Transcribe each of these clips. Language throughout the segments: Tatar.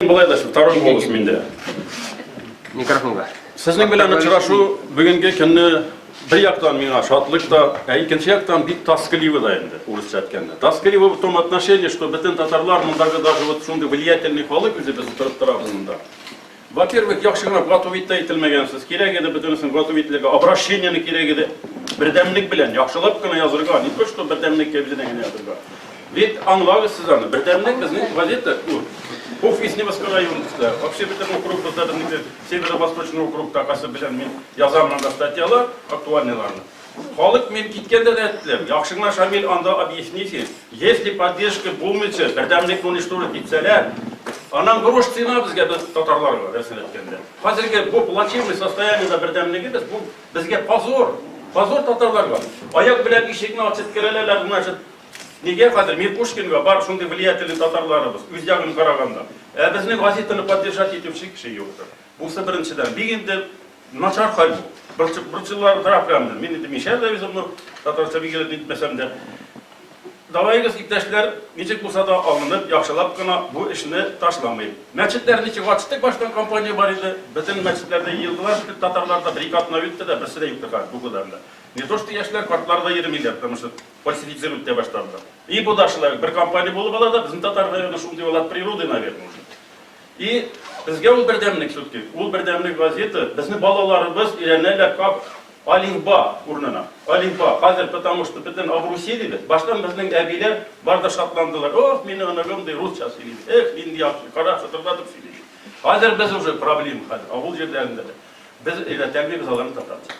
Болай да второй голос миндә. Микрофонга. Сезнең белән очрашу бүгенге көнне бер яктан миңа шатлык та, ә икенче яктан бик тоскливо да инде, урысча әйткәндә. Тоскливо в том отношении, что бөтен татарлар мондагы даже вот шундый влиятельный халык үзе без утырып торабыз монда. Во-первых, яхшы гына готов итә ителмәгәнсез. Кирәк иде бөтенесен готов ителергә, обращениене кирәк иде. Бердәмлек белән яхшылап кына язырга, не то что бердәмлек кәбизенә генә язырга. Бит аңлагыз сез аны. Бердәмлек безнең газета ул. Уф из Невского района. Вообще бөтен округ бездә безнеке Северо-Восточный округ такасы белән мин язам монда статьялар, актуальныйларны. Халык мин киткәндә дә әйттеләр, яхшы гына Шамил анда объясните, если поддержка булмыйча, бердәмлекне уничтожить итсәләр, аннан грош цена безгә без татарларга рәсен әйткәндә. Хәзерге бу плачевный состояниедә бердәмлеге без бу безгә позор. Позор татарларга. Аяк белән ишекне ачып керәләр, значит, Нигә хәзер мин Пушкинга бар шундый влиятельный татарларыбыз, үз ягын караганда. Ә безнең газетаны поддержать итүче кеше юктыр. Бусы беренчедән. Бик инде начар хәл бу. Борчып, борчылар тора прям. Мин инде мишәр дә үзем ну, татарча бик итеп әйтмәсәм дә. Давайгыз, иптәшләр, ничек булса да алынып, яхшылап кына бу эшне ташламыйк. Мәчетләр ничек ачтык, баштан компания бар иде. Бөтен мәчетләрдә йыелдылар, шикет татарлар да бер-ике атна үтте дә, берсе дә юктыр хәзер бу гүләрдә. Не то что яшьләр, картлар да йөремиләр, тырмышып. Фальсифицировать итә башладылар. И бу да шулай, бер компания булып ала да, безнең татар районы шундый ул от природы, наверное, уже. И безгә ул бердәмлек сүтки. Ул бердәмлек газета, безнең балаларыбыз өйрәнәләр как алимба урынына. Алимба, хәзер, потому что бөтен Абруси диде. Баштан безнең әбиләр бар да шатландылар. Ох, мине онагым ди, русча сөйли. Эх, нинди яхшы, кара шатырдатып сөйли. Хәзер без уже проблема хәзер, авыл җирләрендә. Без өйрәтәлмибез аларны татарча.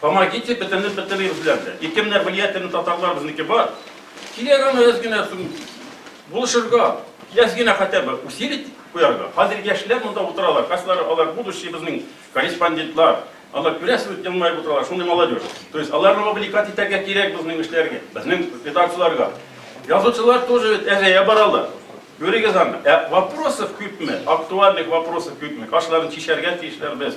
Помогите бетернеп бетермибез белән дә. Ике менә влиятельный татарлар безнеке бар. Кирәк аны әз генә сум булышырга, әз генә хотя бы усилить куярга. Хәзер яшьләр монда утыралар, кайсылары алар будущий безнең корреспондентлар. Алар күрәсез бит елмаеп утыралар, шундый молодежь. То есть аларны мобиликат итәргә кирәк безнең эшләргә, безнең редакцияләргә. Язучылар тоже әзәя баралар. Күрегез аны. Ә вопросов күпме? Актуальных вопросов күпме? Кашларын чишәргә тиешләр без.